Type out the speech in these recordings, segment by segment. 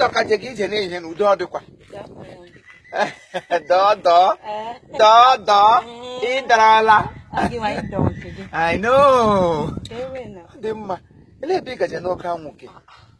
ọkaje gị ije n'ihe na udo ọ dịkwa dọdọ dọdọ ị darala I know dị mma ele ebe ị gaje n'oke anwụ gị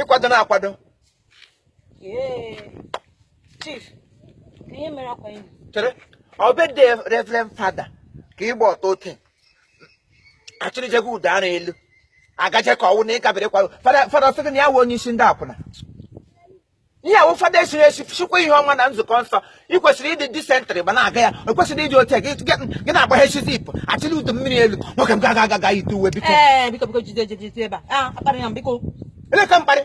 ị kwado na-akwado chere ọ birthday reverend fada ka ị gba ọtọ ote achịrịjego ụda ara elu agaje ka ọ wụ na ịgabere kwado fada sị gị na ya wụ onye isi ndị akwụna ihe a wụ fada esiri esi chịkwa ihe ọma na nzukọ nsọ ị kwesịrị ịdị decent ma na-aga ya o kwesịrị ịdị otu gị na-agbaghechi zip achịla udu mmiri elu nwoke m ga aga gaa yite uwe biko ele ka mkparị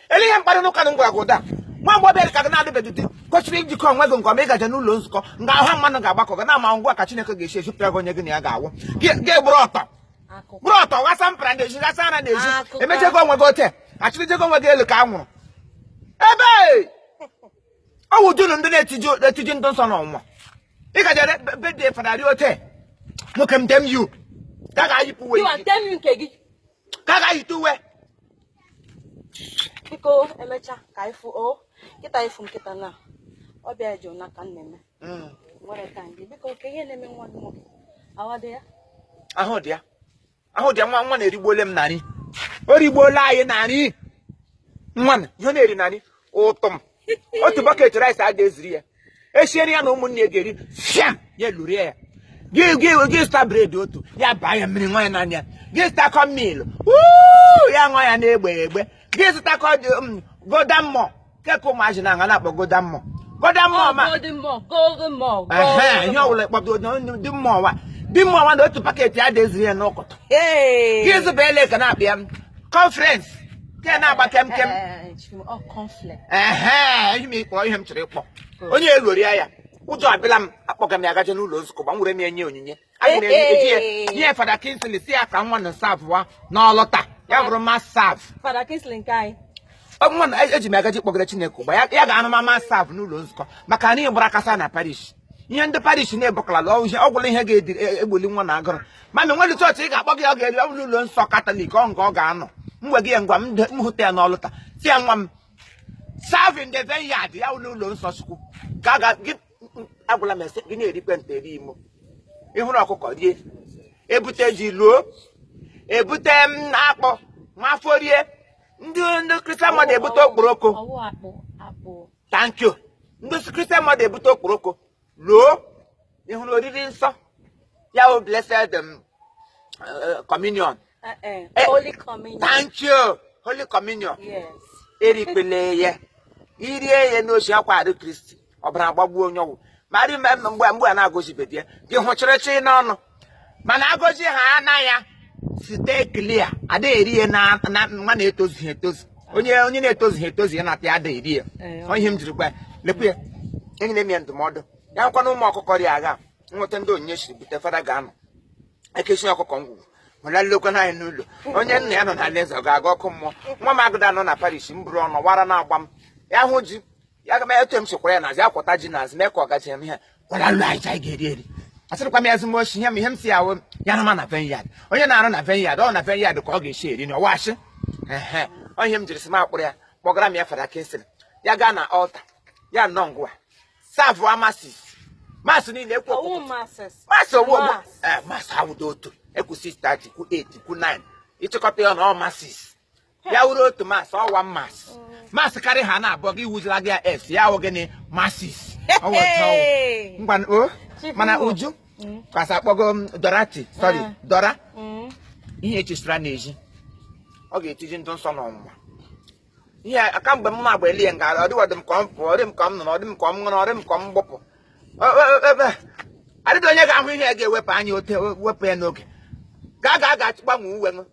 ele ihe mkparị n'ụka na ngwara gị ụda nwa mgbe ọbịa ka gị na-adịbeghị di kwesịrị ijikọ onwe gị nke ọma ị gaje n'ụlọ nzukọ nga ahụ mmadụ ga-agbakọ gị na ama ngwa ka Chineke ga-esi ejupụta gị onye gị na ya ga-awụ gị egburu ọtọ gburu ọtọ ghasa mpara n'ezi ghasa ara n'ezi emechego onwe gị ote achịrịjego onwe gị elu ka a nwụrụ ebe ọ wụ dunu ndị na-etiji ndị nsọ n'ọnwa ị gaje birthday fada ri ote nwoke m dem yu ka ga-ayipụ uwe ka ga-ayite uwe biko emecha ka anyị fụ o kịta ịfụ nkịta na ọ bịa jụ na ka m na-eme Mm. nwere ka ndị biko ka ihe na-eme nwa gị nwoke awa dị ya ahụ dị ya ahụ dị ya nwa nwa na erigbuole m na nri o rigbuola anyị na nri nwa na ihe ọ na-eri na nri ụtụ m otu bucket rice adị eziri ya esiere ya na ụmụnne ya ga-eri fiam ya lurie ya gị gị gị zụta bread otu ya baa ya mmiri nwa ya n'anya gị zụtakọ Milo ya ṅụọ ya na-egbe egbe gị zụtakọ dị- mm, Golden Morn keke ụmụazị na-aṅụ na-akpọ Golden Morn Golden Morn ma Golden Morn, Golden Morn, Ehe, Golden ihe Morn. ọbụla ị kpọrọ dị mma ọwa dị mma ọwa na otu packet adị eziri ya n'ụtụtụ Hey! gị zụba ele ka na-akpọ ya conference ke na-agba kem kem Eh, ehe ihe m ịkpọ ihe m chọrọ ịkpọ onye eloria ya ụjọ abịala m akpọga m ya gaje n'ụlọ nzukọ gbanwere m ya nye onyinye anyị na-eji ya nye fada Kingsley si ya ka nwa na serve-wa n'altar ya bụrụ mass server nwa na eji m agaji kpọgara chineke ugbu a ya ga-anụ ma mass server n'ụlọ nzukọ maka na nri gbara kasa na parish ihe ndị parish na-ebukalala ọgwụla ihe ga-egboli e, nwa na agụrụ mana nwere chọọchị ị ga-akpọ gị ọ ga-eri ọ bụrụ ụlọ nsọ katọlik ọ nga ọ ga-anọ mgbe gị ya ngwa m hụta ya n'altar si ya nwa m serve in the vineyard ya n'ụlọ nsọ chukwu ka ga gị agwụla m ese gị na-erikwe nte eri imo ịhụrụ ọkụkọ rie ebute ji luo ebute m mm, akpụ nwafọ rie ndị ndị christian mother ebute okporoko thank you ndị christian mother ebute okporoko luo ịhụrụ oriri nsọ ya bụ blessed um, uh, communion eh, eh, eh, holy communion thank you holy communion erikpele ya irie ya n'osi akwa arụ kristi ọbara agbagbuo onye ọ wụ ma mgbe mgbe a na-agọzibedị ya gị hụchịrịchị n'ọnụ mana agọzi ha ana ya stay clear adịghị eri ya na nwa na-etozughị etozu onye onye na-etozughị etozu ya na-apịa adịghị eri ya ọ ihe m jiri gwa ya lekwu ya enyere m ya ndụmọdụ ya nkwa na ụmụ ọkụkọ rịa agha nweta ndị onyinye siri bute fada ga-anọ ekechi ọkụkọ ngwugwu wela nlekwa anyị n'ụlọ onye nna ya nọ na alaeze ọ ga-aga ọkụ mmụọ nwa m agụda nọ na parish m bụrụ ọnụ wara na-agba m ya hụ ji ya ga m etu m sikwara ya nazi akwọta ji nazi mee ka ọ gachi m ihe kwara lụ anyị anyị ga-eri eri asịrịkwa m ya ezigbo ochi ihe m ihe m si ya wụ ya na ma na vineyard onye na-arụ na vineyard ọ na vineyard ka ọ ga-esi eri na ọwachi ehe ọ ihe m jiri si m akpọrọ ya kpọgara m ya fada kingsley ya gaa na altar ya nọ nga savụọ masses mass niile ekwu ọwụ ọkụkụ masses mass owu ọgbọ Mass. ee mass awụdo otu ekwu 6:30 kwu 8 kwu 9 ịchịkọta ya na ọ masses ya wuru otu mass ọ wa mass mass karị ha na-abụọ gị wuzila gị ya s ya wụ gịnị masses ngwa o mana uju mm. kwasa akpọgo m dorathy sorry ah. dora mm. ihe echisira n'ezi ọ ga-etiji ndụ nsọ n'ọnwụnwa ihe aka mgbe m na-agba elie nga ọ dịwa dị m ka m pụọ ọ dị m ka m nọ ọ dị m ka m ṅụrụ ọ dị m ka m gbụpụ adịdị onye ga-ahụ ihe ga-ewepụ anya ote wepụ ya n'oge ka a ga-aga gbanwe uwe